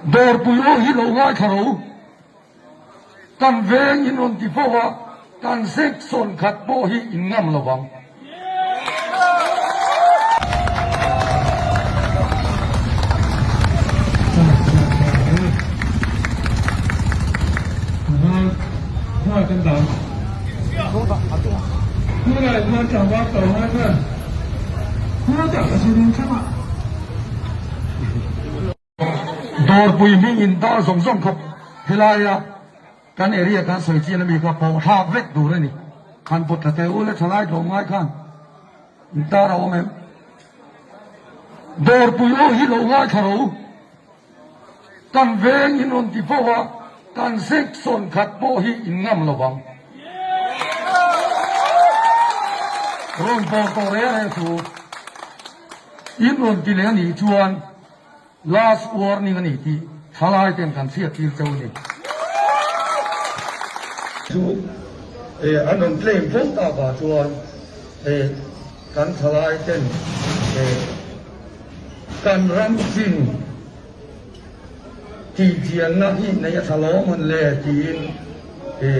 Dawrpui aw hi lo ngai thla ro, kan veng in rawn ti fo a, kan zek sawn khat pawh hi in ngam lo vang. Dawrpui hming in dah zawng zawng khawp. Helai a kan area kan sawi chin ami kha pawh thlak vek tur a ni. Khan pawt tha teh u le thalai tlawm ngai khan intar a awm em? Dawrpui aw hi lo ngai tha ro. Kan veng in rawn ti fo a, kan section khat pawh hi in ngam lo vang. Rawn pawr tawh reh reh chu. In rawn ti leh a nih chuan last warning a ni tih thalai ten kan chhiattir chauh a ni. Chu he an rawn claim fo ta va chuan he kan thalai ten he kan ram chin tih chian na hi nei a tha lawm an le tiin he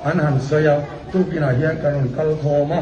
an han sawi a. Tukinah hian kan rawn kal khawm a.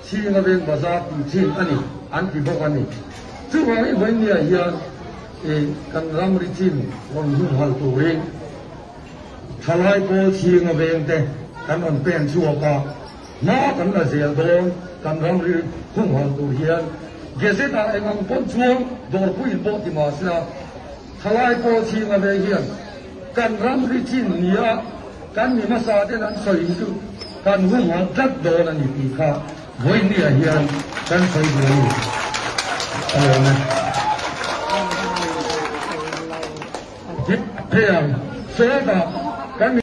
Chhing Laveng Bazar tih chin a ni an ti bawk a ni. Chuvang hi Vainnia hian i kan ramri chin rawn humhal turin thalai pawl chhing laveng te kan rawn pen chhuak a, hma kan la zel dawn kan ramri humhal tur hian Gazette ah eng ang pawn chuang dawrpuiin pawh ti mahse a, Thalai pawh chhing a vei hian kan ram ri chin ni a, kan ni hmasa ten an sawi hi chu kan humhal tlat dawn a ni tih kha Vawiniah hian kan sawi duh a ni. A lo nge? Hi phei ang, sawi dah kan ni?